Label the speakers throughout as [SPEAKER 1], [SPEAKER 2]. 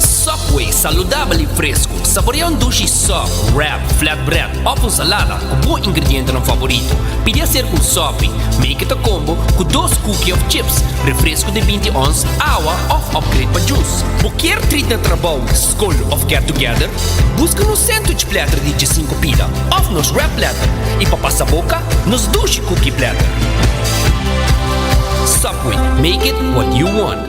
[SPEAKER 1] Subway, saludabel i fresku. Saborea un dushi sub, wrap, flatbread òf un salada ku bo ingredientenan favorito. Pidi aser ku un sopi, make it a combo, ku dos kuki òf chips, refresku di binti ons, awa òf upgrade pa jus. Bo kier trit na trabou, skol òf get together? Buska nos sandwich platter di djisinku pida òf nos wrap platter, i pa pasa boka, nos dushi kuki platter. Subway, make it what you want.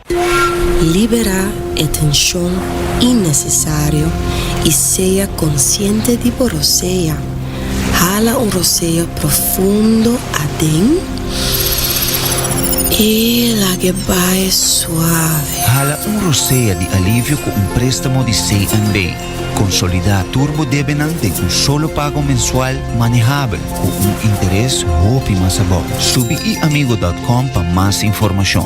[SPEAKER 2] Libera e tenshon innesesario i sea konsiente di bo rosea. Hala un rosea profundo aden i lag'e bai suave. Hala un rosea
[SPEAKER 3] di alivio ku un préstamo di CNB. Konsolidá tur bo debenan den un solo pago mensual manehabel ku un interes hopi mas abou. Subi iamigo dòt kòm pa mas informashon.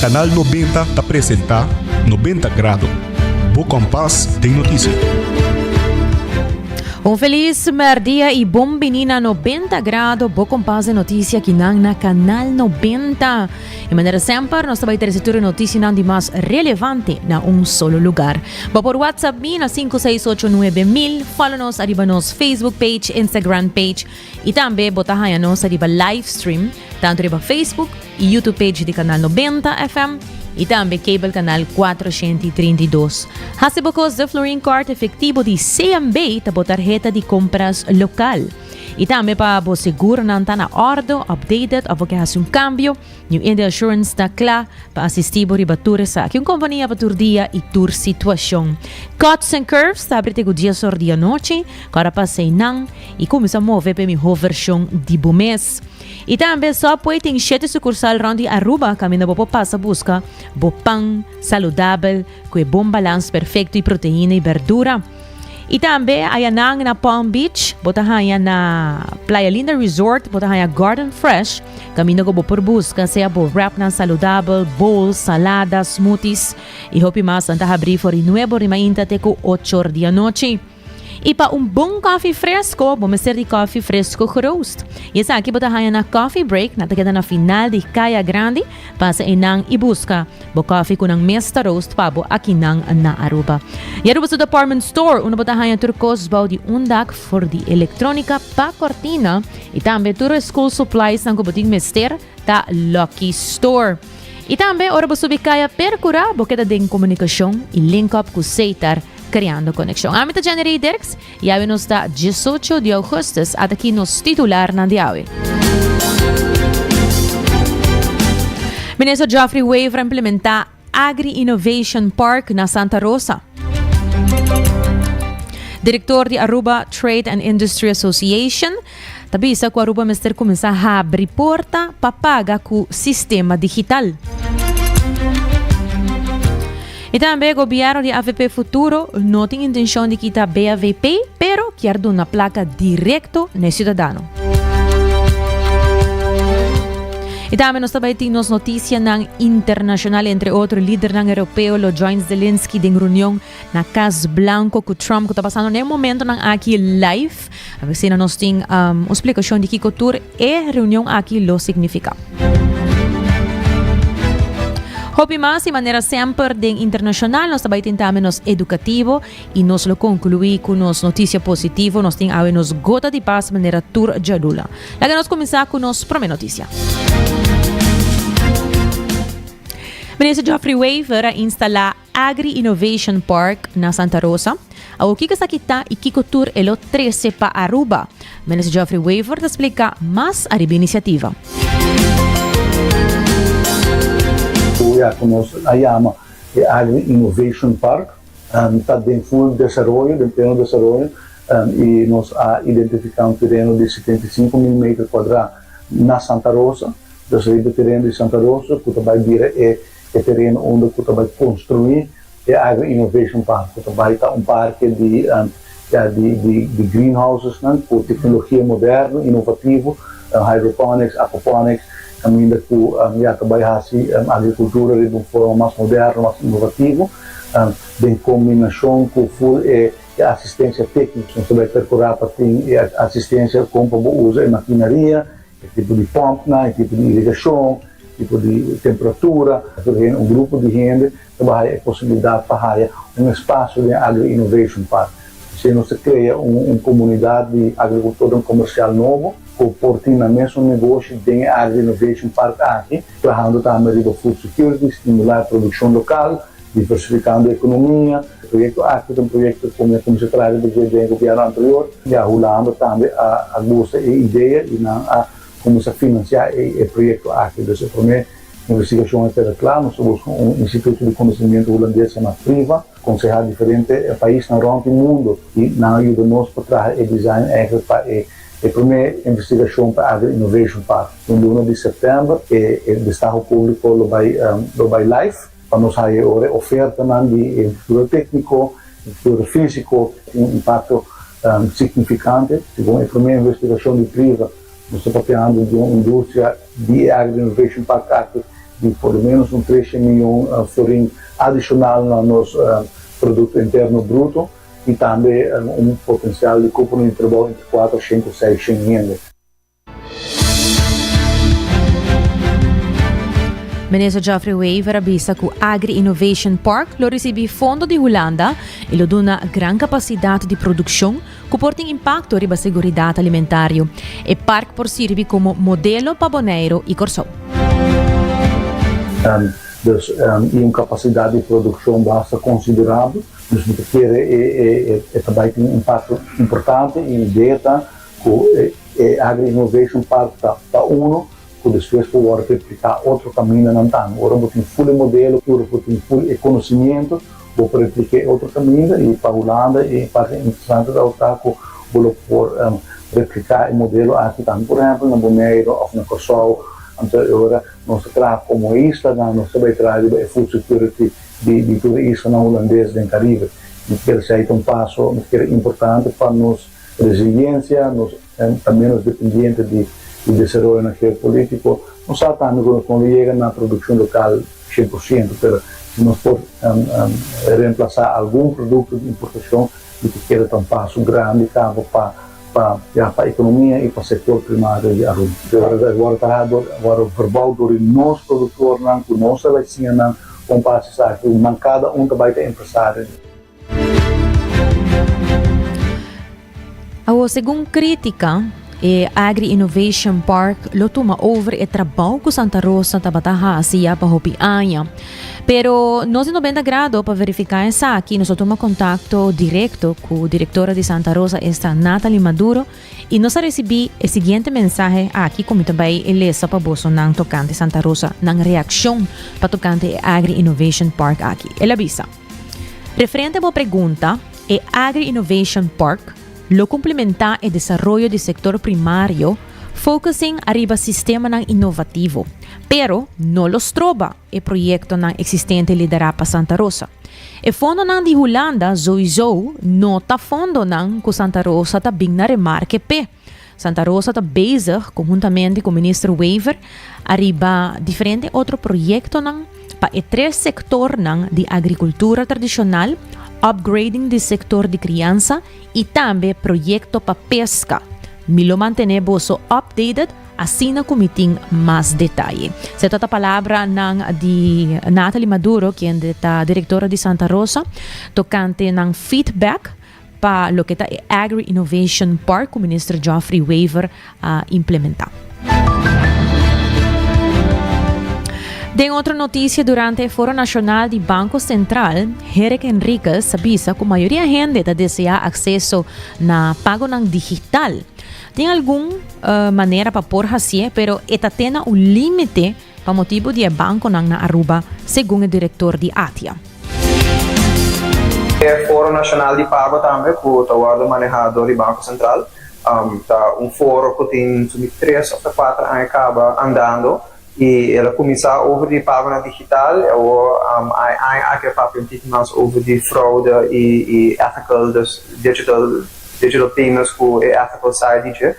[SPEAKER 4] Canal Nobenta ta presenta Nobenta Grado, bo kompas den notisia.
[SPEAKER 5] Un felis merdia i bon bini na Nobenta Grado, bo kompas den notisia kinan na Canal Nobenta. I manera semper, nos ta bai trese tur e notisianan di mas relevante na un solo lugar. Bo por whatsapp mi na sinku seis ocho nuebe mil, follow nos ariba nos Facebook page, Instagram page, Y tambe bo ta haña nos ta riba livestream tanto riba Facebook y YouTube page di Kanal Nobenta FM y tambe cable Kanal Kuatrocienti Trinta i Dos. Haci bo kos de Florin Card Efectivo di CNB ta bo tarheta di compras local. Y tambe pa bo segur nan ta na orde, updated of bo ke haci un cambio, New India Assurance ta kla pa asistí bo riba tur esaki. Un kompania pa tur dia i tur situashon. Cuts and Curves ta abri te ku dies or di anochi, kora pa seinan i kuminsá move pa e mihó vershon di bo mes. I tambe Subway tin shete sukursal rònt di Aruba kaminda bo por pasa buska bo pan saludabel, Cu e bon balans perfecto y proteina y berdura. Y tambe ayanan na Palm Beach, bo ta haya na Playa Linda Resort, bo ta haya Garden Fresh, caminda cu bo por busca sea bo wrapnan saludabel, bowls, saladas, smoothies y hopi mas nan ta habri for di nuebo rimainta te cu ochor di anochi. I pa un bon kòfi fresko bo mester di kòfi fresko geroost. I esaki bo ta haña na Coffee Break, nan ta keda na final di Kaya Grandi. Pasa einan i buska bo kòfi ku nan mes ta roost pa bo akinan na Aruba. I Aruba su department store unda bo ta haña tur kos bou di un dak for di elektrónika pa kòrtina i tambe tur e school suppliesnan ku bo tin mester. ta Lucky Store. I tambe ora bo subi kaya Percura, bo keda den Comunicacion i link up cu Seitar creando conexion. Ami ta Jenny Rey Dirks i awe nos ta diesocho di augustus, at aki nos titularnan di awe. Minister Geoffrey Wever a implementa. Agri Innovation Park na Santa Rosa. Direktor di Aruba Trade and Industry Association ta bisa ku Aruba mester kuminsá habri porta pa paga ku sistema digital. I tambe gobièrnu di AVP Futuro no tin intenshon di kita BAVP, pero kier duna plaka direkto na e siudadano. Y tambe nos ta bay tin nos noticianan internacional. Entre otro, lidernan europeo lo join Zelensky den reunion na Cas Blanco cu Trump cu ta pasando na e momentonan aki live. A ver si nos tin um, un explicacion di kiko tur e reunion aki lo significa. Hopi mas y manera semper den internacional nos ta bay tin tambe nos educativo I nos lo konkluí ku nos notisia positivo, nos tin awe nos gota di pas manera tur djadunan. Laga nos kuminsá ku nos promé notisia. Minister Geoffrey Wever a instala Agri Innovation Park na Santa Rosa. Awo kiko sa kita i kiko tur e lo trese pa Aruba? Minister Geoffrey Wever ta splika mas ariba e inisiativa.
[SPEAKER 6] Ku ya ku nos a yama e Agri Innovation Park. Ta den ful desaroyo, den pleno desaroyo, y nos a identifica un tereno di setenta y sinku mil meter kuadra na Santa Rosa, dus riba e tereno di Santa Rosa ku ta bai bira e e tereno unda ku ta bai konstruí e Agro Innovation Park, ku ta bai ta un parke di. di greenhousesnan ku teknologia moderno, inovativo, hydroponics, aquaponics, kaminda ku ya ta bai hasi agrikultura riba un forma mas moderno, mas inovativo, den kombinashon ku ful e asistensia tekniko. Nos ta bai perkurá pa tin e asistensia kon pa bo usa e makinaria, e tipo di pòmpnan, e tipo di irigashon, tipo di temperatura. Tur hende, un grupo di hende. ta bai haya e posibilidat pa haya un espasio den Agri Innovation Park. Asina nos ta krea un komunidat di agrikultornan komersial nobo ku por tin nan mesun negoshi den e Agri Innovation Park aki, trahando tambe riba food security, stimulá e produkshon lokal, diversifikando e ekonomia. E proyekto aki ta un proyekto ku mi a kuminsá traha riba dje den e gobièrnu anterior i a Hulanda tambe a gusta e idea i nan a kuminsá finansiá e proyekto aki. Dus e promé Investigashon e tene kla, nos ta buska un instituto di konosimiento hulandes e na priva konsehá diferente paisnan rònt di mundu i nan a yuda nos pa traha e design èigendlik pa e e promé investigashon pa Agri Innovation Park. Den luna di sèptèmber e e destaho públiko lo bai lo bai laif pa nos haña e ora e ofertanan di e infrastruktura tékniko, infrastruktura físiko tin un impakto signifikante segun e promé investigashon di priva. Nos ta papia handi di un industria di e área di innovation pa katu di por lo ménos un tres shen mion florin adishonal na nos produkto interno bruto i tambe un potensial di kupu di trabou entre kuater shen ku seis shen hende.
[SPEAKER 5] Minister Geoffrey Wever a bisa ku Agri Innovation Park lo risibí fondo di Hulanda i lo duna gran kapasidat di produkshon, ku por tin impakto riba seguridat alimentario. E park por sirbi komo modelo pa Boneiru i Kòrsou. Èn,
[SPEAKER 6] dus, èn i un kapasidat di produkshon basta konsiderabel, dus no ta kere e e e ta bai tin un impakto importante i mi idea ta ku e e agri-innovation park ta ta uno ku despues por wòrdu repliká otro kamindanan tambe. Ora bo tin ful e modelo i ora bo tin ful e konosimientu, bo por repliká e otro kaminda. I pa Hulanda e parti interesante ta tabata ku bo lo por repliká e modelo aki tambe, por ehèmpel na Boneiru òf na Kòrsou. Anto e ora nos ta traha komo e islanan, nos ta bai traha riba e food security di tur e islanan hulandes den Karibe. Mi ta kere si ai ta un paso, mi ta kere importante pa nos resiliensia, nos. Ta menos dependiente di e desaroyonan geopolitico. Nos sa tambe cu nos no lo yega na produccion local cien por ciento, pero si nos por reemplaza algun producto di importacion mi ta keda ta un paso grandi cabo pa pa ya pa economia y pa sector primario di Aruba. Pero a revés, worde ta ha'a dor, worde verbao dor di nos productornan cu nos ta bay siña nan con base esaki, nan cada un ta bay ta empresario.
[SPEAKER 5] Awor, segun crítica, e Agri-Innovation Park lo tuma over e trabao cu Santa Rosa tabata haci ya pa hopi aña. Pero nos di 90 grado pa verifica esaki nos a tuma contacto directo cu directora di Santa Rosa esta Nathalie Maduro y nos a recibi e siguiente mensahe aki cu mi ta bay e lesa pa bosonan tocante Santa Rosa nan reaccion pa tocante e Agri-Innovation Park aki. Ela bisa. Referente bo pregunta, e Agri-Innovation Park lo cumplimenta e desaroyo di sector primario focusing ariba sistemanan innovativo, pero no lo stroba e proyectonan existente lidera pa Santa Rosa. E fondonan di Hulanda souizo no ta fondonan cu Santa Rosa ta bin na remarke p'e. Santa Rosa ta bezig konhuntamente ku Minister Wever ariba diferente otro proyektonan pa e tres sektornan di agrikultura tradishonal, upgrading di sektor di kriansa i tambe proyekto pa peska. Mi lo mantené boso updated asina ku mi tin mas detaye. Se ta ta palabranan di Nathalie Maduro, kende ta direktora di Santa Rosa, tokante nan feedback pa loke ta e Agri Innovation Park cu Minister Geoffrey Wever a implementa. Den otro noticia, durante e Foro Nacional di Banco Central, Herek Henriquez a bisa cu mayoria hende ta desea acceso na pagonan digital. Tin algun manera pa por haci'e pero e ta tena un limite Pa motibu di e bankonan na Aruba, segun e direktor di Atia.
[SPEAKER 7] E foro nashonal di pago tambe ku ta wòrdu maneha dor di Banko Sentral, ta un foro ku tin su di tres òf ta kuater aña kaba andando i e lo kuminsá over di pagonan digital i awor e aña aki e papia un tiki mas over di fraude i ethical, dus digital. Dje lo times ku e ethical side di dje.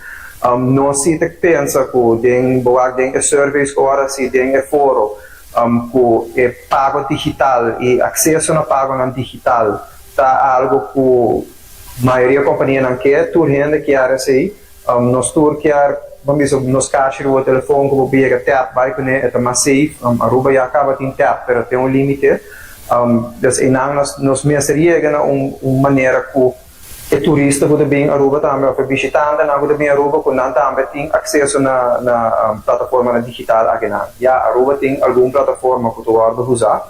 [SPEAKER 7] Nos si ta pensa ku den boak den e surveys ora si den e foro ku e pago digital i akseso na pagonan digital ta algo ku mayoria kompanianan ke, tur hende kier esei. Nos tur kier ban bisa nos kashi di bo telefon ku bo por yega tap bai kuné, e ta mas safe. Aruba ya kaba tin tap pero ten un límite. Des einan nos mester yega na un manera ku. E turista ku ta bin Aruba tambe òf e bishitantenan ku ta bin Aruba ku nan tambe tin akseso na na plataformanan digital akinan. Ya, Aruba tin algun plataforma ku ta wòrdu usá.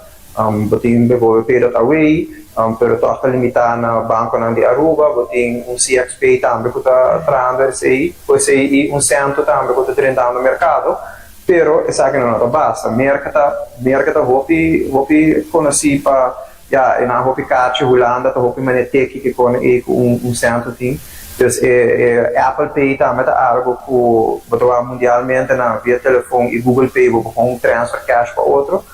[SPEAKER 7] Bo tin bivobe PayDotAway, pero tòg ta limitá na bankonan di Aruba. Bo tin un CXPay tambe ku ta traando esei. Ku esei i un sèntu tambe ku ta drentando merkado. Pero esakinan no ta basta. Merk ta merk ta hopi hopi konosí pa Ya, e nan hopi kachi, Hulanda ta hopi mane teki kikon ei ku un un sentro tin. Pues e e Apple Pay tambe ta algo ku bo ta wak mundialmente na via telefon i Google Pay bo por kon transfer cash pa otro.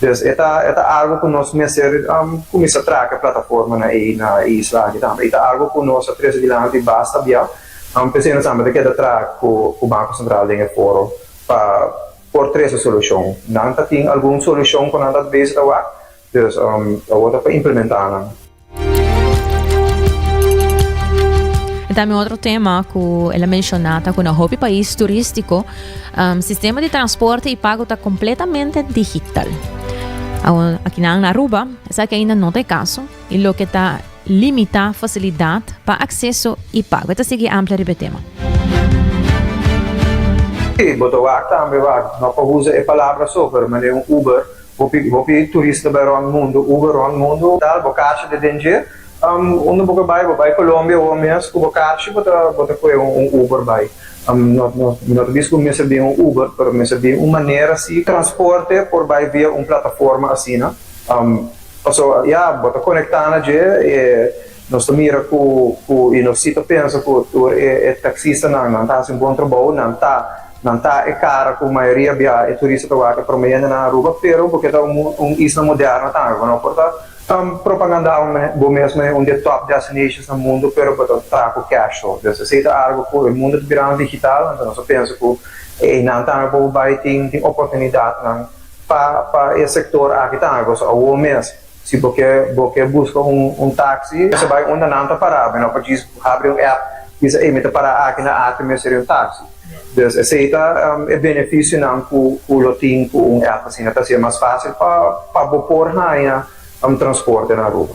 [SPEAKER 7] Pues e ta e ta algo ku nos mester kuminsá traha ke plataformanan ei na e isla aki tambe. I ta algo ku nos a trese dilanti basta biau. P'esei nos tambe ta keda traha ku ku Banko Sentral den e foro pa por trese solushon. Nan ta tin algun solushon ku nan ta bese ta wak. There's um awor ta pa implementa
[SPEAKER 5] nan. E tambe otro tema cu el a menciona ta cu na hopi pais turistico um sistema di transporte y pago ta completamente digital. Awor akinan na Aruba esaki ainda no ta e caso y loke ta limita facilidad pa acceso y pago. E ta sigui amplia riba e tema. Si,
[SPEAKER 7] bo ta wak tambe wak. No pa uza e palabra so, pero mane un Uber Hopi hopi turista bai rond mundu uba rond mundu tal bo kachi de den dje am unda bo ke bai bo bai colombia awor mes ku bo kachi bo ta bo ta koe un un uber bai am no no mi no ta bisa ku mester bin un uber pero mester bin un manera si transporte por bai via un plataforma asina am paso ya bo ta conecta na dje e Nos ta mira cu, cu, y nos si ta pensa cu tur e, e taxistanan, nan ta haci un bon trabou, nan ta, nan ta e cara cu mayoria bia e turista ta wak e prome hende na Aruba, pero bo ke ta un, un isla moderno tambe, bo no por ta. Ta propagandao me, bo mesmo e un di e top destinations na mundo, pero bo ta traha cu cash so. Desha esey ta algo cu e mundo ta birando digital, anto nos ta pensa cu e eynan tambe por bo bay tin, tin oportunidadnan pa, pa e sector aki tambe, bo so awor mes. Si bo ke bo ke buska un un taxi mester bai unda nan ta pará bo no por djis habri un app bisa ey mi ta pará aki na aki mi a seri un taxi dus esey ta e beneficionan cu cu lo tin cu un app asina ta haci'e mas facil pa pa bo por haña transporte na Aruba.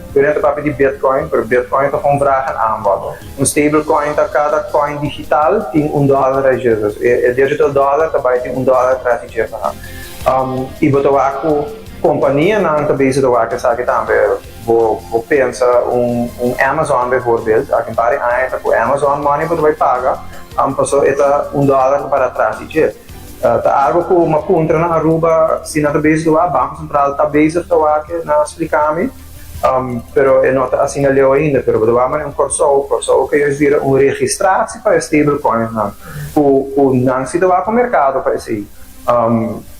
[SPEAKER 7] Pero nan ta papia di Bitcoin, pero Bitcoin ta kon vragen amba. Un stablecoin ta kada coin digital tin un dollar ajesus. E e digital dollar ta bai tin un dollar tras di dje paha. Am, i bo ta wak ku kompanianan ta bezig ta wak esaki tambe. Bo bo pensa un un Amazon bijvoorbeeld, aki un par di aña ta ku Amazon money bo ta bai paga, am, paso e ta un dollar ta para tras di dje. Ta algo cu m'a puntra na Aruba si nan ta bezig towá. Banco Central ta bezig towá ke, nan a splica mi. Pero e no ta asina leu ainda. Pero bo ta wak manen Corsou. Corsou a kere bira un registraci pa e stablecoins nan, cu, cu nan si ta wak un mercado pa esei.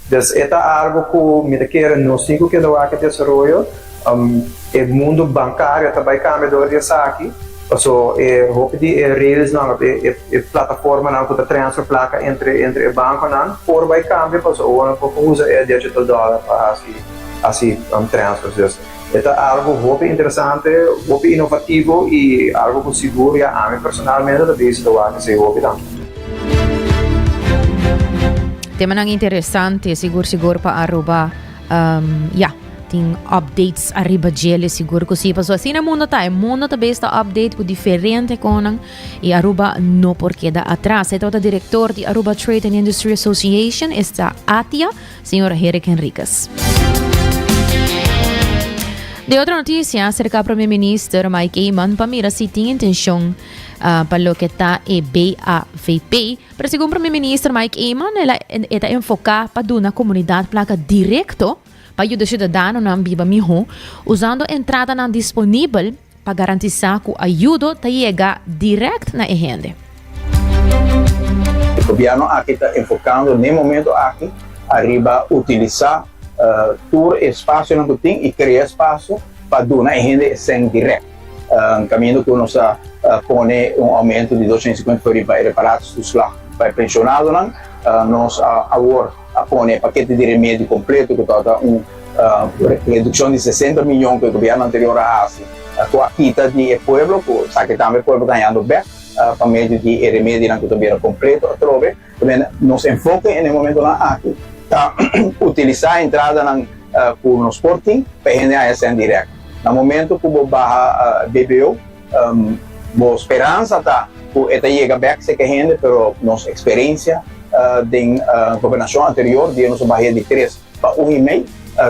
[SPEAKER 7] Des e ta algo cu mi ta kere nos tin cu keda wak e desaroyo. E mundo bankario ta bai kambia dor di esaki, paso e hopi di e railsnan òf e plataformanan ku ta transfer plaka entre entre e bankonan por bai kambia, paso awor nan por ko usa e digital dollar pa hasi hasi transfers. Dus e ta algu hopi interesante, hopi inovativo i algu ku sigur ya ami personalmente ta bisa ta wak esei hopi dan.
[SPEAKER 5] Temanan interesante sigur sigur pa Aruba, ya. Tin updates arriba djele, sigur ku si. Paso asina mundo ta. E mundo ta bes ta update ku diferente konan. I Aruba no por keda atras. E tabata direktor di Aruba Trade and Industry Association, esta ATIA, señor Herrick Henriquez. De otro notisia, serka Prome Minister Mike Eman pa mira si tin intenshon uh, pa loke ta e BAVP. Pero segun Prome Minister Mike Eman, e ta enfoka pa duna komunidat plaka direkto pa yuda siudadanonan biba mihó usando entradanan disponibel pa garantisá ku ayudo ta yega dirèkt na e hende.
[SPEAKER 8] Gobièrnu aki ta enfokando n'e momentu aki ariba utilisá tur e spasionan ku tin i krea spasio pa duna e hende e sèn dirèkt, kaminda ku nos ta pone un oumentu di dos shènta i sinkuenta por riba e reparatie-toeslag pa e penshonadonan. Nos awor. a pone e pakete di remedio kompleto ku ta ta un redukshon di sesenta miyon ku e gobièrnu anterior a hasi ku a kita di e pueblo ku sa ke tambe e pueblo ta hañando bèk pa medio di e remedionan ku ta bira kompleto atrobe. Tambe nos enfoke na e momentonan aki ta utilisá entradanan ku nos por tin pa e hende haña sèn dirèk. Na momento ku bo baha BBO Bo speransa ta cu e ta yega bek seke hende, pero nos experencia den gobernacion anterior di e nos a bahia di tres pa un y mei,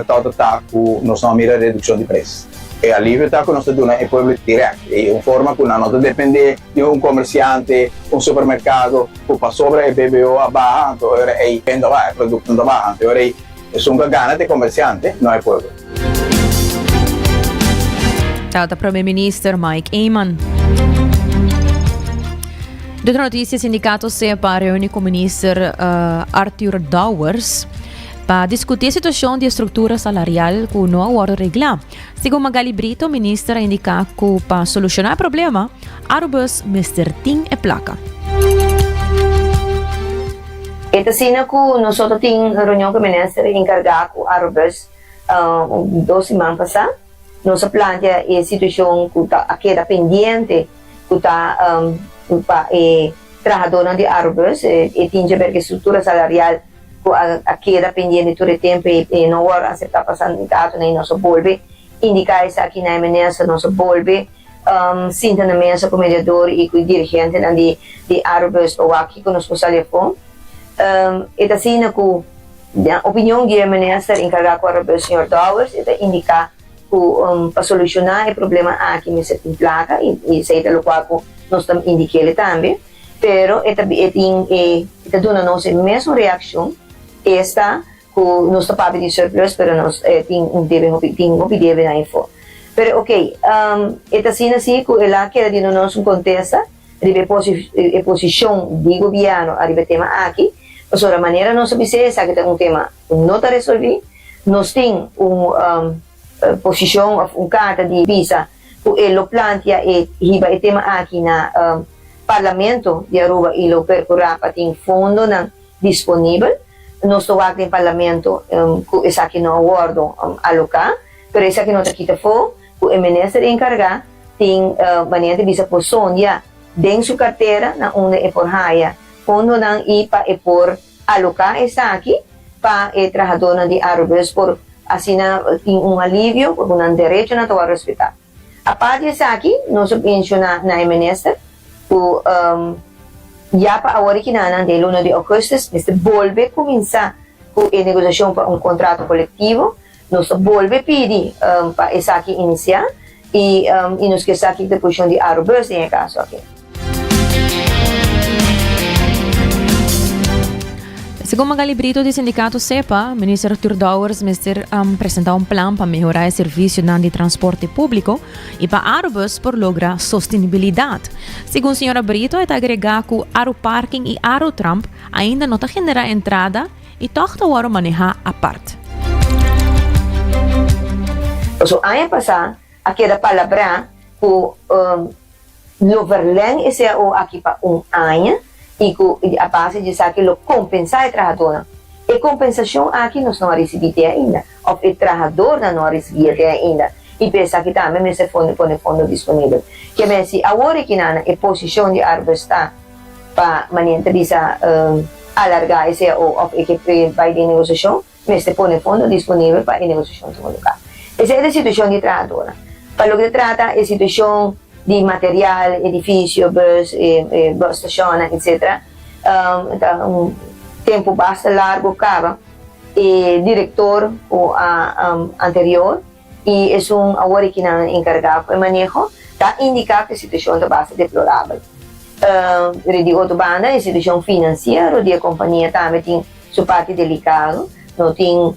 [SPEAKER 8] torta ta cu nos no a mira reduccion di pres. E alivio ta cu nos ta duna e pueblo direct y un forma cu nan no ta depende di un comerciante, un supermercado cu pasobra e BBO a baha anto ora ey venta baha, e producto no ta baha anto ora ey Esun cu a gana t'e comerciante no hay pueblo.
[SPEAKER 5] Tabata ta Prome Minister Mike Eman. Dutro noticia, sindicato CEPA reuni cu minister uh, Arthur Dowers pa discutir situacion di estructura salarial cu no a wordo regla. Segun Magaly Brito, minister a indiká ku pa solushoná e problema, Arubus mester tin e plaka.
[SPEAKER 9] E ta asina ku nosoto tin reunion ku e minister enkargá ku Arubus dos siman pasá. Nos a plantea e situashon ku ta a keda pendiente ku ta pa e trahadónan di Arubus. E tin djaber ku e struktura salarial. cu a keda pendiente tur e tempo y e no wor acepta pa San Gato na y nos a bolbe indica esaki na e minister, nos a bolbe sinta na mesa cu mediador y cu e dirigentenan di di Arobus pa wak kico nos por sali afo. E ta asina cu den opinion di e minister encarga cu Arobus señor Dowers e ta indica cu pa soluciona e problema aki mester tin placa y esey ta locual cu nos ta indica el'e tambe. Pero e ta e tin e e ta duna nos e mesun reaccion esta cu nos ta papia di un surplus pero nos tin un debe hopi tin hopi debe na efo. Pero ok e ta asina si cu el a keda di duna nos un contesta riba e posi e posicion di gobierno ariba e tema aki pasobra manera nos a bis'e esaki ta un tema cu no ta resolvi nos tin un posicion of un carta di bisa ku e lo plantia e hiba e tema aki na Parlamento di Aruba i lo perkurá pa tin fondonan disponibel. Nos ta wak den Parlamento ku esaki no a wòrdu aloká, pero esaki no ta kita afó ku e minister enkargá tin manera di bisa por sondia den su kartera na unda e por haya fondonan i pa e por Aloká esaki pa e trahadónan di Arubus por asina tin un alivio ku nan derechonan ta wòrdu respetá. Apart di esaki, nos a menshoná na e minister ku ya pa awor i kinanan den e luna di ougùstus mester bolbe kuminsá ku e negosiashon pa un kontrato kolektivo, Nos ta bolbe pidi pa esaki inisiá i i nos ke sa kiko ta e posishon di Arobus den e kaso
[SPEAKER 5] aki. Segun Magali Brito di Sindikato Sepa, Minister Arthur Dowers mester presentá un plan pa mehorá e servisionan di transporte públiko i pa Arobus por logra sostenibilidat. Segun señora Brito e ta agregá ku Aroparking i Arotramp ainda no ta generá entrada I tòg ta wòrdu manehá apart.
[SPEAKER 9] Pasobra aña pasá a keda palabrá ku lo verlèn e cao aki pa un aña i ku a base di esaki lo kompensá e trahadónan. E kompensashon aki nos no a risibí di e ainda. òf e trahadornan no a risibia te ainda, i p'e esaki tambe mester fondo pone fondo disponibel. Ke mester awor e kinana e posishon di Arbesta pa manera ta bisa alargá e CAO òf e ke e bai den negosiashon, mester pone fondo disponibel pa e negosiashon tuma lugá. Esei ta e situashon di e trahadornan. Pa loke ta trata e situashon di material, edifisio, bus, bus stashonnan, etsetera, ta un tempu basta largu kaba. E director cu a anterior y esun awor aki nan encarga cu e maneho ta indica cu e situacion ta basta deplorabel. Ri di otro banda e situacion financiero di e compania tambe tin su parti delicado, no tin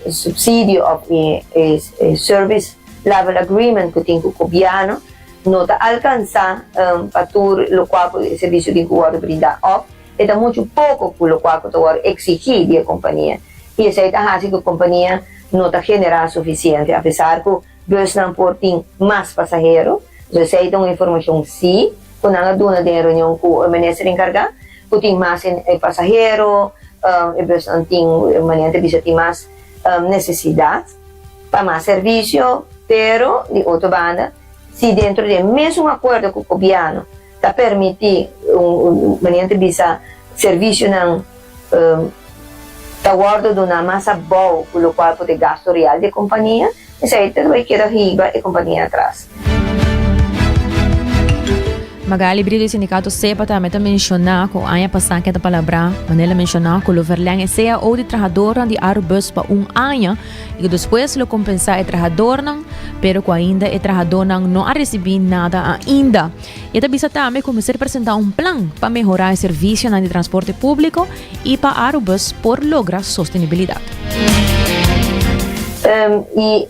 [SPEAKER 9] subsidio of e service level agreement cu tin cu Gobierno no ta alcansa pa tur locual cu e servicio tin cu wordo brinda of. E ta muchu poko ku lokual ku ta wòrdu eksigí di e kompania i esei ta hasi ku e kompania no ta generá sufisiente apesar ku busnan por tin mas pasahero. Entonces esei ta un informashon sí ku nan a duna den e reunion ku e minister enkargá ku tin mas pasahero, e busnan tin manera nan ta bisa tin mas nesesidat pa mas servisio pero di otro banda si dentro di e mesun akuerdo ku gobièrnu. Ta permití un manera te bisa servisionan ta wòrdu duná mas abou ku lokual por e gastu real di e kompania, esei ta bai keda hiba e kompania atras.
[SPEAKER 5] Magaly Brido di Sindikato Sepa tambe ta menshoná ku aña pasá keda palabrá, manera el a menshoná, ku lo verlèn e cao di trahadornan di Arubus pa un aña, I ku despues lo kompensá e trahadónan, pero ku ainda e trahadónan no a risibí nada ainda. I e ta bisa tambe ku mester presentá un plan pa mehorá e servisionan di transporte públiko i pa Arubus por logra sostenibilidat. I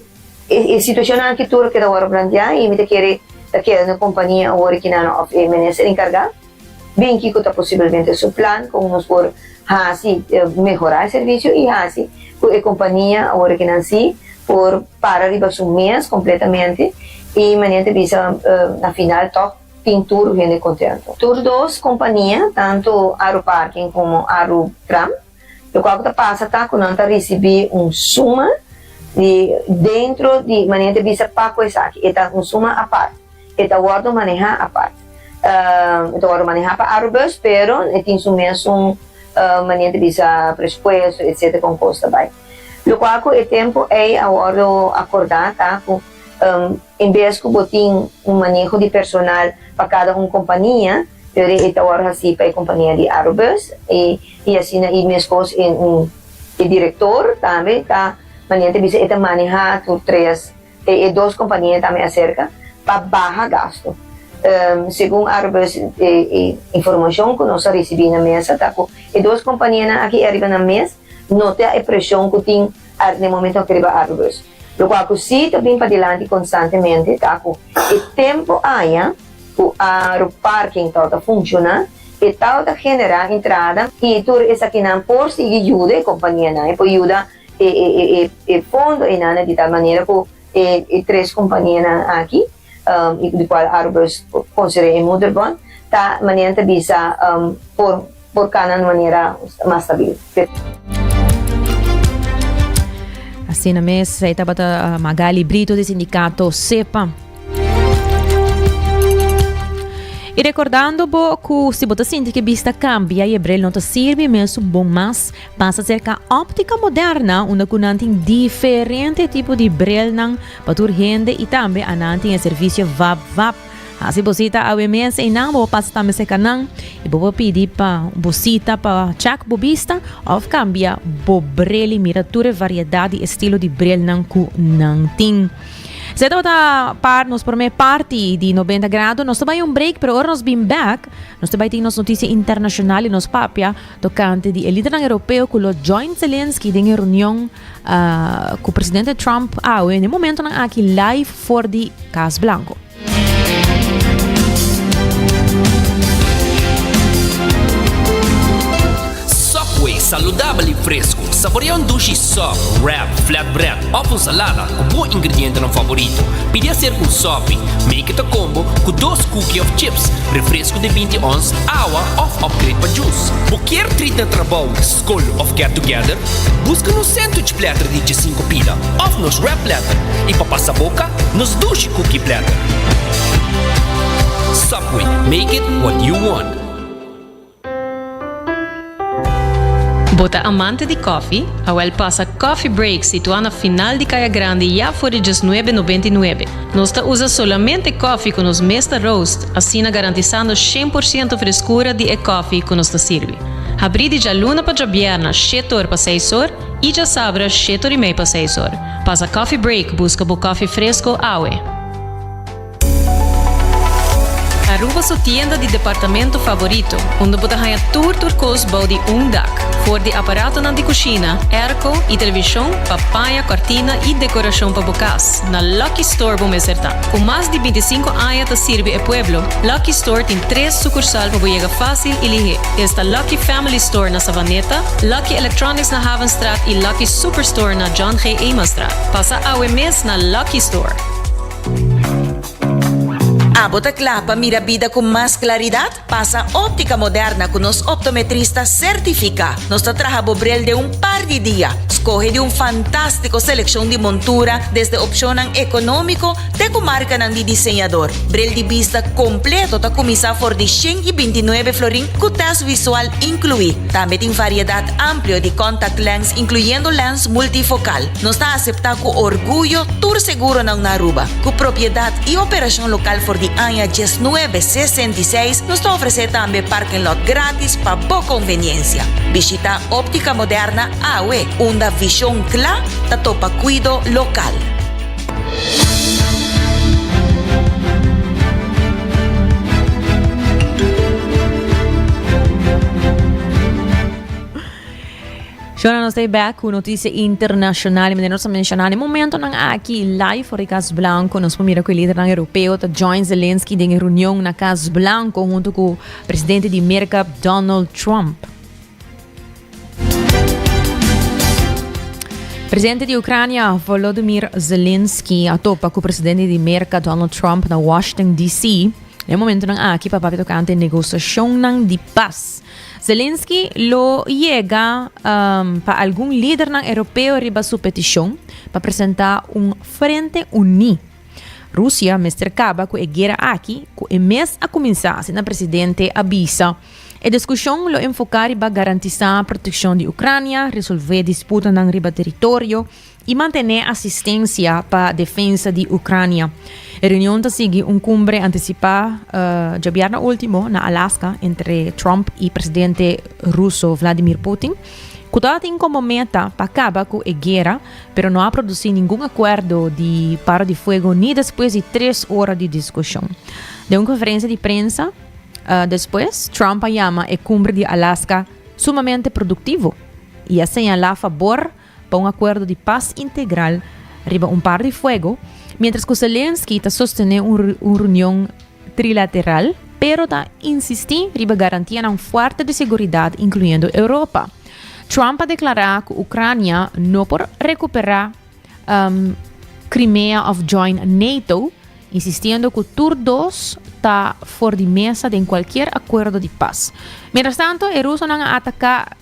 [SPEAKER 9] e situashonnan aki tur lo keda wòrdu planteá i mi ta kere ta keda na e kompania awor e kinan òf e minister enkargá. Bin kiko ta posibelmente su plan kon nos por hasi mehorá e servisio i hasi ku e kompania awor ke nan sí por para riba su mes kompletamente i manera ta bisa na final tòg tin tur hende kontento. Tur dos kompania tantu Aruparking komo Arutram. Loke ku ta pasa ta ku nan ta risibí un suma di dentro di manera ta bisa paco esaki e ta un suma apart e ta wordo maneha apart e ta wordo maneha pa Arobus pero e tin su mesun manera ta bisa presupuesto etcetera kon kos ta bai lokual ku e tempu ei a wordo akorda ta ku en bes ku bo tin un maneho di personal pa kada un kompania. Pero e ta wòrdu hasí pa e kompania di Aerobus i asina i meskos e direktor tambe ta manera ta bisa e ta manehá tur tres e dos kompania tambe aserka pa baha gastu. Segun Aerobus e informashon ku nos a risibí na mesa ta ku e dos kompanianan aki e ariba nan mes no ta e preshon ku tin Ar den momento aki riba ar rus. Lokua ku si ta bin padilanti konstantemente ta ku e tempu aña ku ar òf parking tau ta funshoná e tau ta generá entrada i tur esakinan por sigui yuda e kompanianan, e por yuda e fondo einana di tal manera ku e tres kompanianan aki. di cual Arubers considera e moederbond, ta manera nan ta bisa por cana un manera mas stabil.
[SPEAKER 5] Asina mes, esei tabata uh, Magali Brito di sindicato SEPA. E recordando bo cu si bo ta sinti que vista cambia e bril no ta sirvi mesu bon mas, pasa cerca Optica Moderna, unda cu nan tin diferente tipo di brilnan Pa tur hende y tambe anan tin e servicio vap vap. Haci bo cita awe mes y nan bo bo pasa ta meseca nan y bo bo pidi pa bo cita pa check bo bista of cambia bo bril y mira tur e variedad y estilo di bril nan cu nan tin. Sey tabata par nos prome parti di Noventa Grado. Nos ta bay un break pero ora nos bin back nos ta bay tin nos noticia internacional y nos papia Tokante di e lidernan Europeo ku lo join Zelensky den e reunion ku presidente Trump awe n'e momentonan aki live for di Kas Blanko.
[SPEAKER 1] Subway, saludabel i fresku. Saborea un dushi sòp, wrap, flatbread òf un salada. Bo ingredientenan favorito. Pidi a ser un sopi, make it a combo, cu dos cookie of chips, refresco di binti ons, awa of upgrade pa jus. Bo kier treat na trabou, scol of get together? Busca nos sandwich platter di djesinco pida of nos wrap platter y pa pasa boca, nos dushi cookie platter. Subway, make it what you want.
[SPEAKER 10] Bo ta amante di kòfi? Awèl pasa Coffee Break situá na final di Kaya Grandi ya for di djes nuebe nobenta i nuebe. Nos ta usa solamente kòfi ku nos mes ta roast, asina garantisando shen por siento freskura di e kòfi ku nos ta sirbi. Habrí di djaluna pa djabièrna shete or pa seis or i djasabra shete or i mei pa seis or. Pasa Coffee Break buska bo kòfi fresko awe! Aruba su tienda di departamento favorito, unda bo ta haña tur tur kos bou di un dak, for di aparatonan di kushina, airco i televishon pa paña kòrtina i dekorashon pa bo kas, na Lucky Store bo mester ta. Ku mas di bintisinku aña ta sirbi e pueblo, Lucky Store tin tres sukursal pa bo yega fásil i lihé. Esta Lucky Family Store na Savaneta, Lucky Electronics na Havenstraat i Lucky Superstore na John G. Emanstraat. Pasa awe mes na Lucky Store.
[SPEAKER 11] Abo ta kla pa mira bida ku mas klaridat? Pasa Óptica Moderna ku nos optometrista sertifiká. Nos ta traha bo brel den un par di dia. Skohe di un fantástiko selekshon di montura, desde opshonnan ekonómiko te ku markanan di diseñador. Brel di bista kompleto ta kuminsá for di shen i binti nuebe florin ku tèst visual inkluí. Tambe tin variedat amplio di kòntaktlenz, inkluyendo lèns multifokal. Nos ta aseptá ku orguyo tur seguronan na Aruba. Ku propiedat i operashon lokal for di aña dies nuebe sesenta i seis, nos ta ofresé tambe parking lot gratis pa bo konveniensia. Bishita Optica Moderna awe, unda vishon kla ta topa kuido lokal.
[SPEAKER 5] Shona nos back ku noticia internacional y nos menciona en momento nan aki live for Cas Blanco nos mira ku líder nan europeo ta join Zelensky den reunión na Cas Blanco junto ku presidente di Merca Donald Trump. Presidente di Ucrania Volodymyr Zelensky a topa ku presidente di Merca Donald Trump na Washington DC. En momento nan aki papá tocante negociación nan di paz. Zelensky lo yega pa algun lidernan Europeo riba su petishon pa presentá un frente uní. Rusia mester kaba ku e guera aki ku e mes a kuminsá, asina presidente a bisa. E diskushon lo enfoká riba garantisá protekshon di Ucrania, resolvé disputanan riba teritorio i mantené asistensia pa defensa di Ucrania. E reunion ta sigui un cumbre anticipá djabièrna último na Alaska entre Trump i presidente ruso Vladimir Putin, cu ta tin como meta pa caba cu e guera, pero no a producí ningun acuerdo di para di fuego ni despues di tres ora di discusion. Den un conferencia di prensa despues, Trump a yama e cumbre di Alaska sumamente productivo i a señalá fabor pa un akuerdo di pas integral riba un par di fuego, mientras cu Zelensky ta sostene un, un reunion trilateral, pero ta insisti riba garantianan fuerte di seguridad, incluyendo Europa. Trump a declara cu Ucrania no por recupera um, Crimea of join NATO, insistiendo cu tur dos ta for di mesa den cualquier acuerdo di pas. Mientras tanto, e rusonan a ataca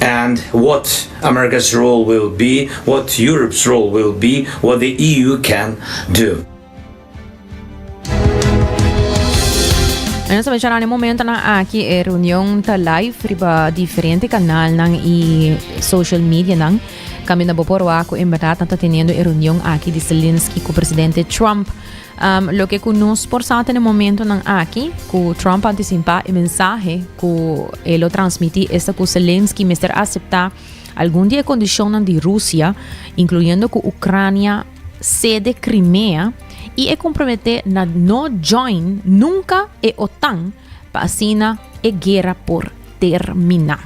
[SPEAKER 12] and what America's role will be, what Europe's role will be, what the EU can do.
[SPEAKER 5] En nos mencionar en momento na aquí e reunión ta live riba diferente canal nan y social media nan. Cambio na bopor waco en verdad ta teniendo e reunión aquí di Zelensky con presidente Trump. Um, loke ku nos por sa ta na momentonan aki, ku Trump a antisipá e mensahe ku e lo transmití esta ku Zelensky mester aseptá algun di e kondishonnan di Rusia, inkluyendo ku Ucrânia sede Krimea i e komprometé na no join nunka e OTAN pa asina e guera por termina.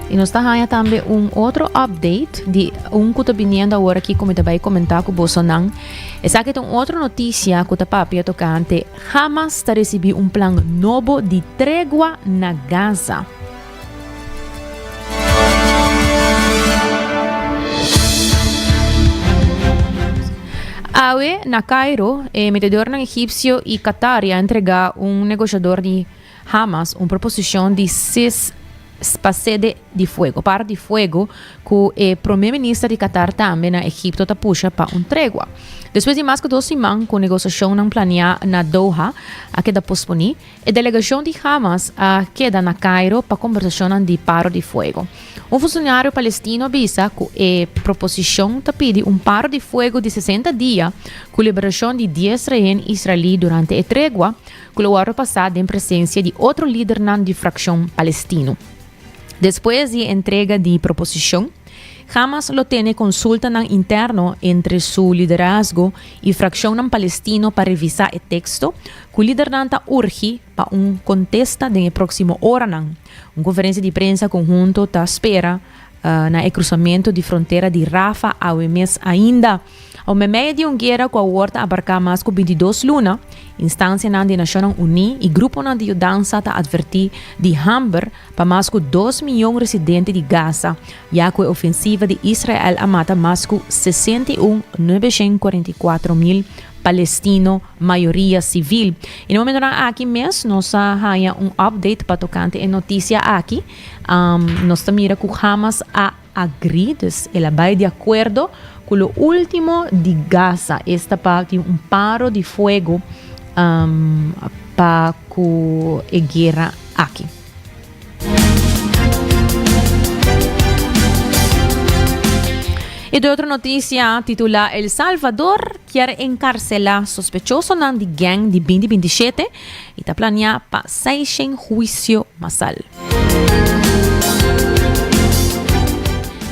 [SPEAKER 5] Y nos ta haya tambe un otro update di un cu ta biniendo ahora aquí como ta bay comentar cu bosonan. Esa que un otro noticia cu ta papia tocante jamás ta recibí un plan nobo di tregua na Gaza. Awe, na Cairo, e metedornan egipcio y Qatar ya entrega un negociador di Hamas un proposicion di sis pa sede di fuego, par di fuego cu e prome minister di Qatar tambe na Egipto ta pusha pa un tregua. Despues di mas cu dos siman cu negociacionnan planea na Doha a keda posponi, E delegashon di Hamas a keda na Kairo pa kombersashonnan di paro di fuego. Un funshonaryo palestino bisa ku e proposishon ta pidi un paro di fuego di sesenta dia ku liberashon di dies rehen israelí durante e tregua ku lo wòrdu pasá den presensia di otro lidernan di frakshon palestino. Despues di entrega di proposicion, Hamas lo tene consultanan interno entre su liderazgo y fraccionnan palestino pa revisa e texto, cu lidernan ta urgi pa un contesta den e proximo oranan. Un conferencia di prensa conhunto ta spera na e cruzamento di frontera di Rafah awe mes ainda. Ora me medio di un guera cu a word a abarca mas cu bintidos luna, instancianan di Nacionnan Uní y gruponan di yudansa ta adverti di hamber pa mas cu dos miyon residente di Gaza, ya cu e ofensiva di Israel a mata mas cu sesenta i un nuebeshén kuarenta i kuater mil Palestino, mayoria civil. Y na momentonan aki mes nos a haña un update pa tocante e noticia aki, nos ta mira cu Hamas a. Agri, dus el a bai di akuerdo ku lo último di Gaza. Esta pa tin un paro di fuego pa ku e guera aki. I te otro notisia titulá El Salvador kier enkarselá sospechosonan di gèng di binti binti shete. y ta planea pa seishen huicio masal.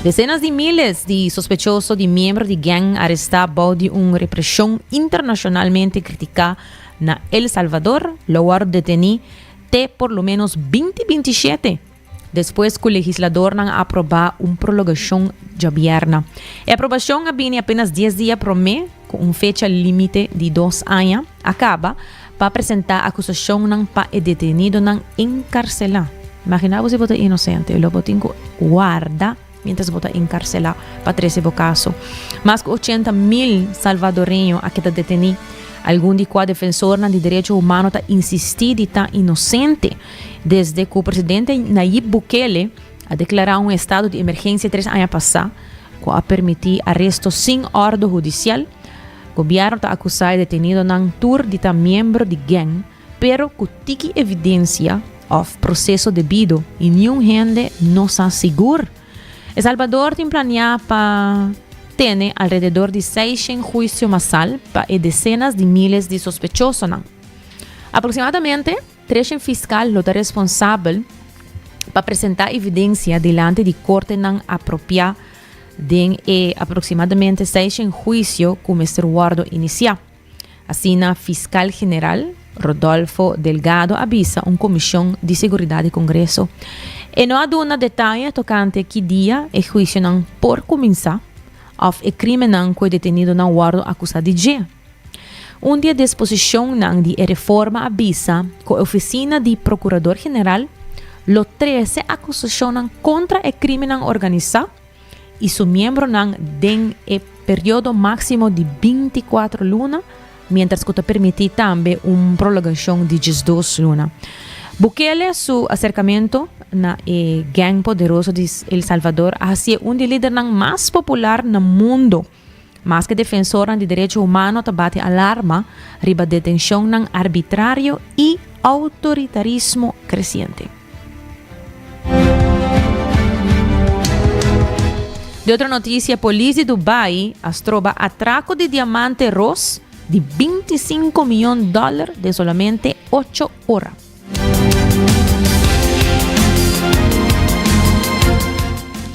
[SPEAKER 5] Decenas di miles di sospechoso di miembro di gang aresta bao di un represion internacionalmente critica na El Salvador lo wor deteni te por lo menos binti binti shete. despues cu legisladornan a aproba un prologacion djabierna. E aprobacion a bini apenas dies dia prome cu un fecha limite di dos aña a caba pa presenta acusacionnan pa e detenidonan encarcela. Imagina bo si bo ta inocente y lo bo tin cu warda. Mientras bo ta encarcelá pa trece bo caso. Mas cu ochenta mil Salvadoreño a keda detení. Algun di cua defensornan di derecho humano ta insistí di ta inocente desde cu presidente Nayib Bukele a declará un estado di emergencia tres aña pasá, cu a permití aresto sin orde hudicial. Gobierno ta acusá e detenidonan tur di ta miembro di gang. Pero ku tiki evidensia òf proseso debido i niun hende no sa sigur. E Salbador tin planeá pa tene alrededor di seishen huisio masal pa e desenas di míles di sospechosonan. Aproksimadamente treshen fiskal lo ta responsabel pa presentá evidensia dilanti di kortenan apropiá den e aproksimadamente seishen huisio ku mester wòrdu inisiá. Asina Fiskal General Rodolfo Delgado a bisa un Komishon di Seguridat di Kongreso. E no a duna detaye tokante ki dia e huisionan por kuminsá òf e krímennan ku e detenidonan wòrdu akusá di dje. Un di e disposishonnan di e reforma a bisa ku e ofisina di Prokurador General lo trese akusashonnan kontra e krímennan organisá, i su miembronan den e periodo máksimo di binti kuater luna, miéntras ku ta permití tambe un prologashon di diesdos luna. Bukele su aserkamentu na e gèng poderoso di El Salvador a hasié un di lidernan mas popular na mundu. Maske defensornan di derecho humano ta bati alarma riba detencionnan arbitrario y autoritarismo creciente. De otro noticia, polis di Dubai a stroba atraco di diamante ros di bintisinco miyon doler den solamente ocho ora.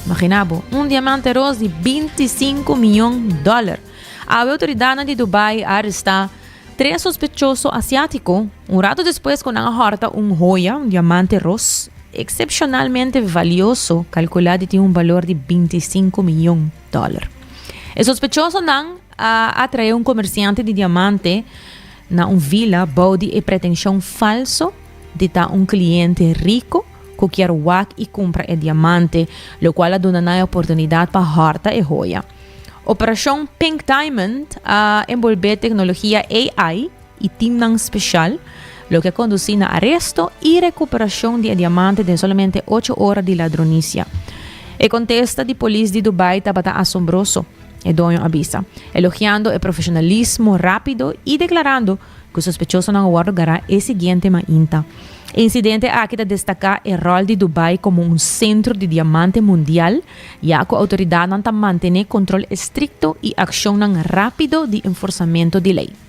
[SPEAKER 5] Magina bo, un diamante ros di binti sinku mion dòler. Awe outoridatnan di Dubai a arestá tres sospechoso asiátiko, un ratu despues ku nan a hòrta un hoya, un diamante ros, eksepshonalmente valioso, kalkulá di tin un balor di binti sinku mion dòler. E sospechosonan. A atraé un komersiante di diamante na un vila bou di e pretenshon falso di ta un kliente riko ku kier wak i kumpra e diamante, lokual a duna nan e oportunidat pa hòrta e hoya. Operashon Pink Diamond a enbolbé teknologia AI, y teamnan special, loke a conduci na aresto y recuperacion di e diamante den solamente ocho ora di ladronicia. E contesta di polis di Dubai tabata asombroso, e doño a bisa, elogiando e profesionalismo rapido y declarando cu sospechosonan a wordo gará e siguiente mainta. E incidente aki ta destaca e rol di Dubai como un centro di diamante mundial, ya cu autoridadnan ta mantene control estricto y accionnan rapido di enforzamento di ley.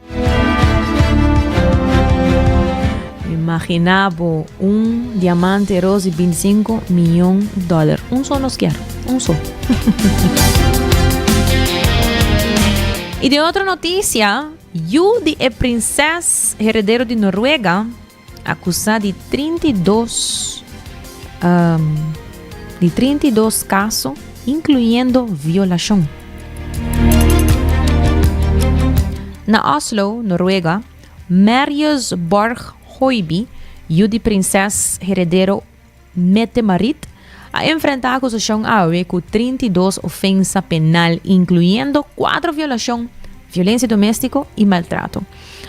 [SPEAKER 5] Imagina bo un diamante roos di 25 miljoen dollar. Un so nos kier. Un so. y de otro noticia, yu di e prinses heredero di Noruega Akusá di trinta i dos di trinta i dos kaso inkluyendo violashon. Na Oslo, Noruega, Marius Borg Hoiby, yu di prinses heredero Mette Marit a enfrenta acusacion awe cu trinta i dos ofensa penal, incluyendo cuatro violacion, violencia domestico y maltrato.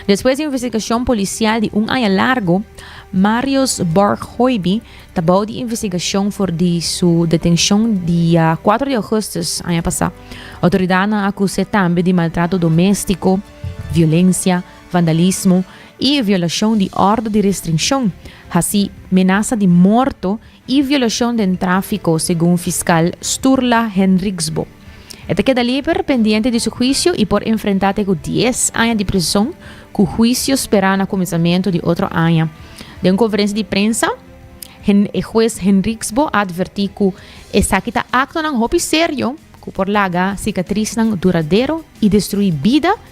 [SPEAKER 5] Despues di investigacion policial di un aña largo, Marius Borghoiby ta bao di investigacion for di su detencion dia cuatro di augustus aña pasa. Autoridadnan acus'e tambe di maltrato domestico, violencia, vandalismo i e violashon di ordo di restrinshon, hasi menasa di morto i violashon den tráfiko, segun fiskal Sturla Henriksbo. E ta keda lieber pendiente di su huisio i por enfrentá te ku dies aña di prison, ku huisio sperá na kuminsamentu di otro aña. Den un konferensia di prensa, e hues Henriksbo a atvertí ku esaki ta aktonan hopi serio ku por laga sikatrisnan duradero i destruí bida,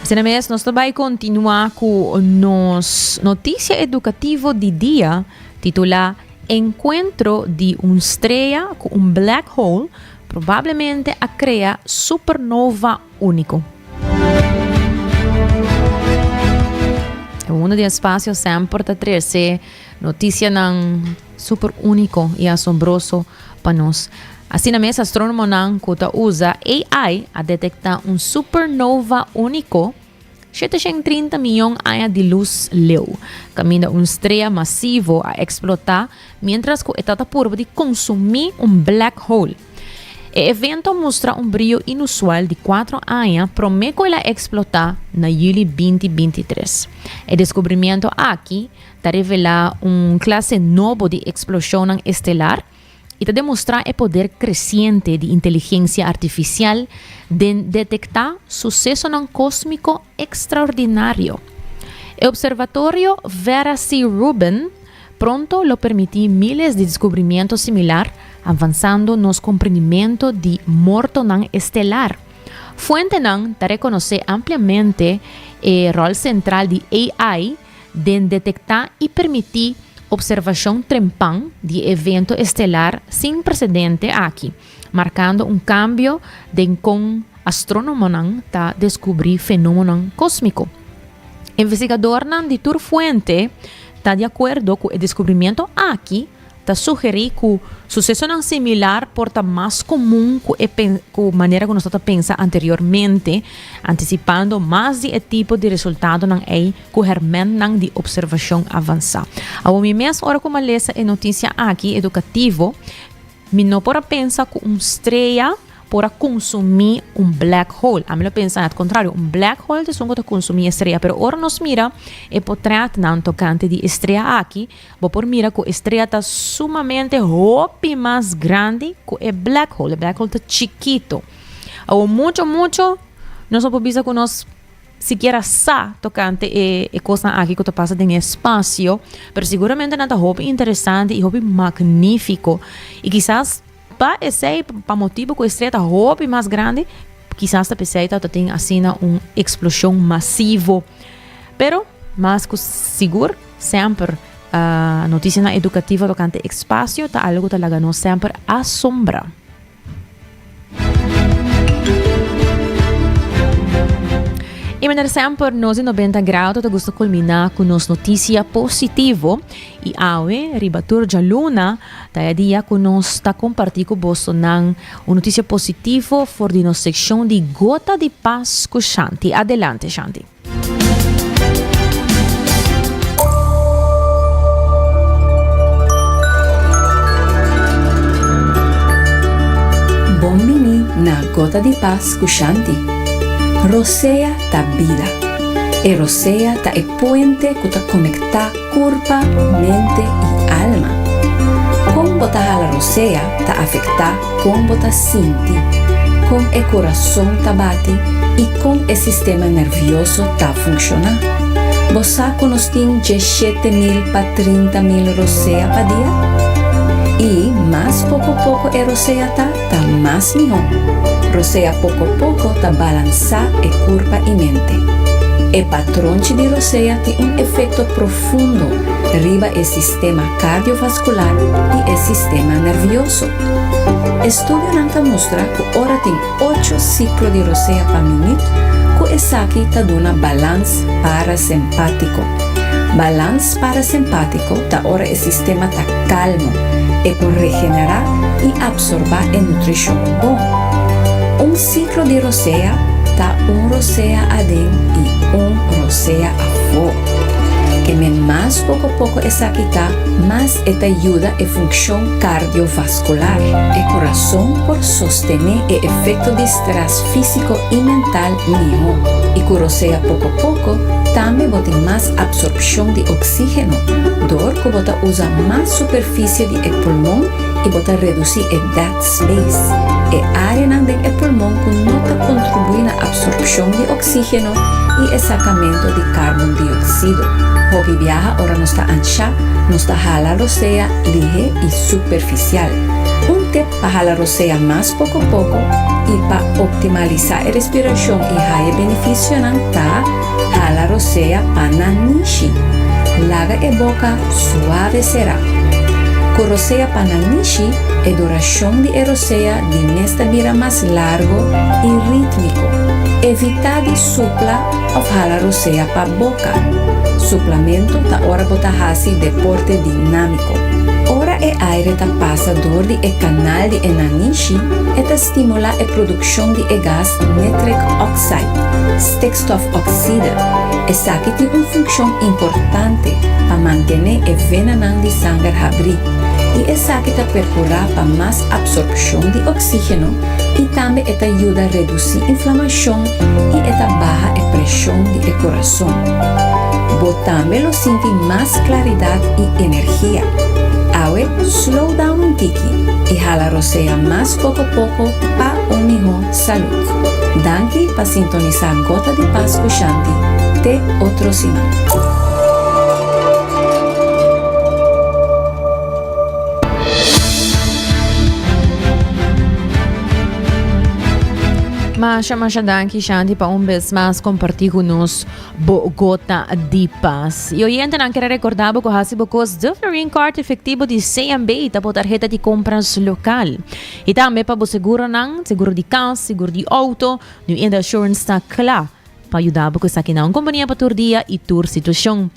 [SPEAKER 5] Asina mes nos ta bai kontinuá ku nos notisia edukativo di dia titulá Enkuentro di un strea ku un black hole probablemente a krea supernova úniko. Uno di e spasio semper ta trese. Notisianan super úniko i asombroso pa nos. Asina mes, astrónomonan ku ta usa AI a detektá un supernova úniko shete shen trinta mion aña di lus leu, kaminda un strea masivo a eksplotá miéntras ku e ta ta purba di konsumí un black hole. E evento a mustra un brio inusual di kuatro aña promé ku el a eksplotá na yuli binti binti tres. E deskubrimiento aki, ta revelá un klase nobo di eksploshonnan estelar i ta demostrá e poder kresiente di inteligensia artifisial den detektá susesonan kósmiko ekstraordinario. E Observatorio Vera C. Rubin pronto lo permití míles di deskubrimiento similar, avansando nos komprendimento di mortonan estelar. Fuentenan ta rekonosé ampliamente e ròl sentral di AI Den detektá i permití opservashon trempan di e evento estelar sin presedente aki, markando un kambio den kon astrónomonan ta deskubrí fenómenonan kósmiko. Investigadornan di tur fuente ta di akuerdo ku e deskubrimiento aki, ta sugerí ku susesonan similar por ta mas komun ku e ku manera ku nos ta pensa anteriormente, antisipando mas di e tipo di resultadonan ei ku hermentnan di observashon avansá. Awor mi mes ora ku mi a lesa e notisia aki edukativo, mi no por a pensa ku un strea por a konsumí un black hole. Ami lo pensa na e kontrario, un black hole ta esun ku ta konsumí e strea. Pero ora nos mira e potrètnan tokante di e strea aki, Bo por mira ku e strea ta sumamente hopi mas grandi ku e black hole. E black hole ta chikito. Awor mucho, mucho, nos no por bisa ku nos sikiera sa tokante e, e kosnan aki ku ta pasa den e spasio, pero seguramente nan ta hopi interesante i hopi magnífiko. I kisas Pa esei, pa motibu ku e stret ta hopi mas grandi, kisas ta p'esei ta ta tin asina un eksploshon masivo. Pero, mas ku sigur, semper notisianan edukativo tokante ekspasio ta algu ku ta laga nos semper asombrá. I manera semper, nos di Nobenta Grado ta gusta kulminá ku nos notisia positivo. I awe, riba tur djaluna, Ta e dia cu nos ta comparti cu bosonan un noticia positivo for di nos seccion di Gota di Pas cu Shanti. Adelante, Shanti.
[SPEAKER 13] Bon bini na Gota di Pas cu Shanti. Rosea ta bida. E rosea ta e puente cu ta conecta. Kurpa, mente i alma. Kon bo ta hala rosea ta afektá kon bo ta sinti, kon e kurason ta bati i kon e sistema nervioso ta funkshoná. Bo sa ku nos tin dje shete mil pa trinta mil rosea pa dia? I mas poko poko e rosea ta. ta mas mihó. Rosea poko poko ta balansá e kurpa i mente. E patronchi di rosea tin un efekto profundo riba e sistema kardiovaskular i e sistema nervioso. Estudionan ta mustra ku ora tin ocho siklo di rosea pa minüt ku esaki ta duna balans parasempátiko, balans Parasimpatiko ta ora e sistema ta kalmo, e por regenerá i apsorbá e nutrishon bon. Un siklo di rosea ta un rosea aden i un rosea afó. Kem'é mas pokopoko esaki ta, mas e ta yuda e funkshon kardiovaskular. E kurason por sostené e efekto di strès físiko i mental mihó i ku rosea poko poko tambe bo tin mas apsorbshon di oksígeno dor ku bo ta usa mas superfisie di e pulmon i bo ta redusí e dead space, e áreanan den e pulmon ku no ta kontribuí na apsorbshon di oksígeno i e sakamentu di karbondioksido. Hopi biaha ora nos ta anshá nos ta hala rosea lihé i superfisial. Un tep. Pa hala rosea mas poko poko i pa optimalisá e respirashon i haña e benefisionan ta hala rosea pa nan nishi. Laga e boka suave será. Ku rosea pa nan nishi e durashon di e rosea di mes ta bira mas largo i rítmiko. Evitá di supla òf hala rosea pa boka. Suplamentu ta ora bo ta hasi deporte dinámiko. Ora e aire ta pasa dor di e kanal di e nanishi, e ta stimulá e produkshon di e gas nitrik òksid, stikstofoksida. Esaki tin un funkshon importante pa mantené e venanan di sanger habrí, i esaki ta perkurá pa mas apsorbshon di oksígeno i tambe e ta yuda redusí inflamashon i e ta baha e preshon di e kurason. Bo tambe lo sinti mas klaridat i energia. Awe slow down un tiki i hala rosea mas pokopoko pa un mihó salud. Danki pa sintonisá Gota di Pas ku Shanti te otro siman.
[SPEAKER 5] Masha masha danki Shanti pa un bes mas comparti cu nos bo gota di pas. Y oyente nan kere recorda bo cu hasi bo cos de Florin Card efectivo di CMB ta bo tarjeta di compras local. Y tambe pa bo seguro nan, seguro di cas, seguro di auto, Nu Inda Assurance ta cla pa yuda bo cu esaki nan. Un compania pa tur dia y tur situacion.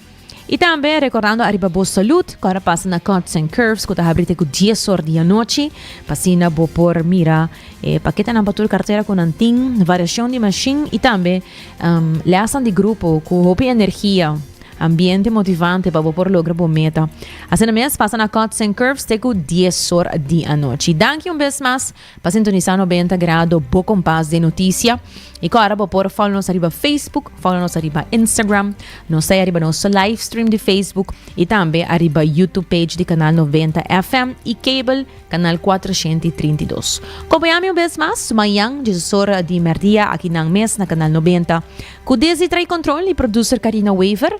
[SPEAKER 5] Y tambe recordando ariba bo salud, cora pasa na Cuts and Curves cu ta habri te cu dies or di anochi, pasina bo por mira eh, paquetanan pa tur cartera cu nan tin, variacion di machine y tambe um, lesnan di grupo cu hopi energia, ambiente motivante pa bo por logra bo meta. Asina mes, pasa na Cuts and Curves te cu dies or di anochi. Danki un bes mas. Pa sintonisa nobenta grado bo kompas den notisia i ko ara bo por follow nos ariba Facebook, follow nos ariba Instagram, nos sai ariba nos live stream di Facebook i tambe ariba YouTube page di kanal noventa FM i cable kanal kuatrashenti trinta i dos. Kompañami un bes mas mañan Jesus ora di merdia akinan mes na kanal noventa ku desdi trae kontrol i producer Karina Wever.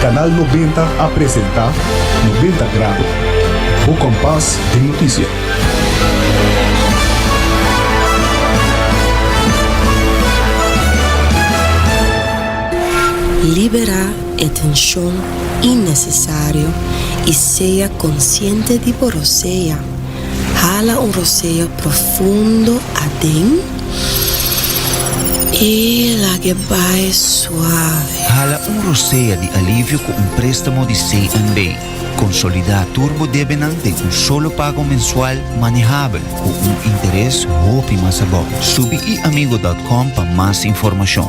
[SPEAKER 4] Canal Nobenta a presenta Nobenta Grado, bo kompas den noticia.
[SPEAKER 2] Libera e tenshon innecesario i sea konsiente di bo rosea. Hala un roseo profundo aden i lag'e bai suave. Hala un
[SPEAKER 3] rosea di alivio ku un préstamo di CNB. Konsolidá tur bo debenan den un solo pago mensual manehabel ku un interes hopi mas abou. Subi iamigo dòt kòm pa mas informashon.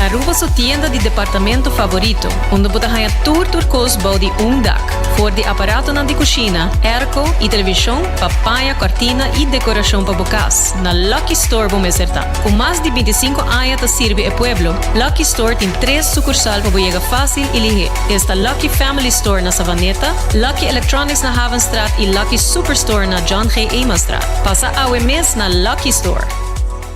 [SPEAKER 10] Aruba su tienda di departamento favorito, unda bo ta haña tur tur kos bou di un dak, for di aparatonan di kushina, airco i televishon pa paña kòrtina i dekorashon pa bo kas. Na Lucky Store bo mester ta. Ku mas di binti sinku aña ta sirbi e pueblo, Lucky Store tin tres sukursal pa bo yega fásil i lihé. Esta Lucky Family Store na Savaneta, Lucky Electronics na Havenstraat i Lucky Superstore na John G. Eemanstraat. Pasa awe mes na Lucky Store!